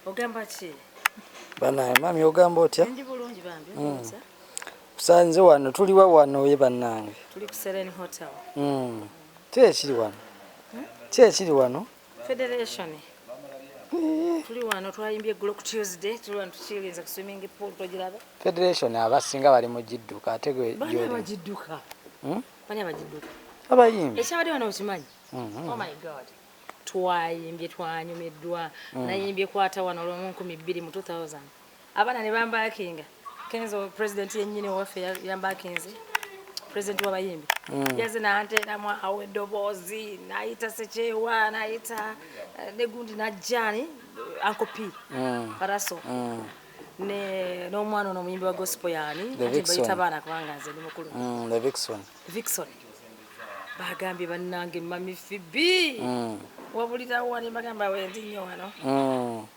ogamba ki banaye mami ogamba otya ndi bulungi bambi hmm. kusanze wano tuliwa wano ye banange tuli ku Serene Hotel mm. kiri wano hmm? kiri wano Federation tuli wano twayimbye eggulo ku Tuesday tuli wano tukirinze ku swimming pool togiraba Federation abasinga bali mu gidduka ate gwe bani abagidduka hmm? bani abagidduka abayimbi ekyabadde wano okimanyi mm-hmm. oh my god twayimbye twanyumiddwa mm. nayimbye kwata wano olwomu nkumi bbiri mu 2000 abana ne bambakinga kenzo president yenyini owaffe yambakinze president wabayimbi mm. yaze nanteramu awo edoboozi nayita sekyewa nayita eh, negundi najjani ankopi mm. paraso mm. ne n'omwana ono omuyimbi wa gospel yani bayita abaana kubanga nze ndi mukulu mm, the vixon vixon bagambye bannange mami fibi mm. wabulirawo wani bagamba wendi nnyo wano mm.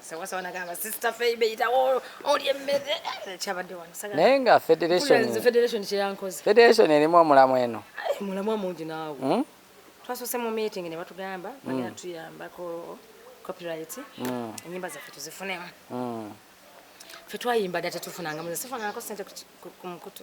sewasaba nagamba sister feibe yitawo olye emmere eh, kyabadde wanusaga naye nga federation federation kyeyankoze federation erimu omulamu eno omulamu amungi naawe hmm? twasose mu meeting ne batugamba hmm. bagenda tuyambako copyright hmm. enyimba zaffe tuzifunemu fe twayimba dda tetufunanga muze sifunangako sente ku mukutu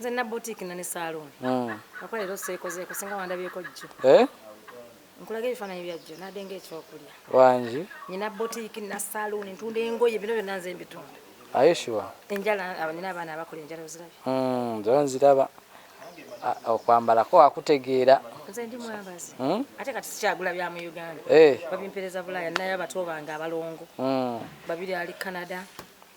nze na boutique na ne salon mm. nakola lero sekoze ko singa wandabye ko jjo eh nkulaga ebifaananyi bya jjo nade nga ekyokulya wangi nina boutique na salon ntunda engoye bino byonna nze mbitunda aye sure enjala abanina abaana abakola enjala oziraba mm nze nziraba okwambalako wakutegeera nze ndi mwambazi hmm? ate kati sikyagula bya mu uganda eh. babimpereza bulaya naye abato bange abalongo hmm. babiri ali canada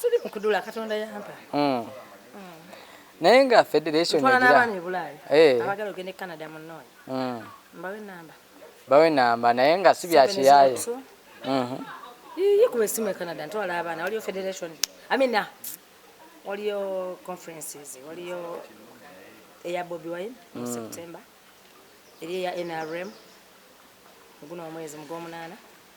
siri mukudula katonda yampa mm. naye nga federation eh. abagala ogende canada munonya mm. mbawe namba bawe namba naye nga si byakiyaye mhm. yikuba esimu e canada ntwala abaana waliyo federation amina waliyo conferences waliyo eya bobi wine mu mm. september eri eya nrm guno omwezi mugwomunaana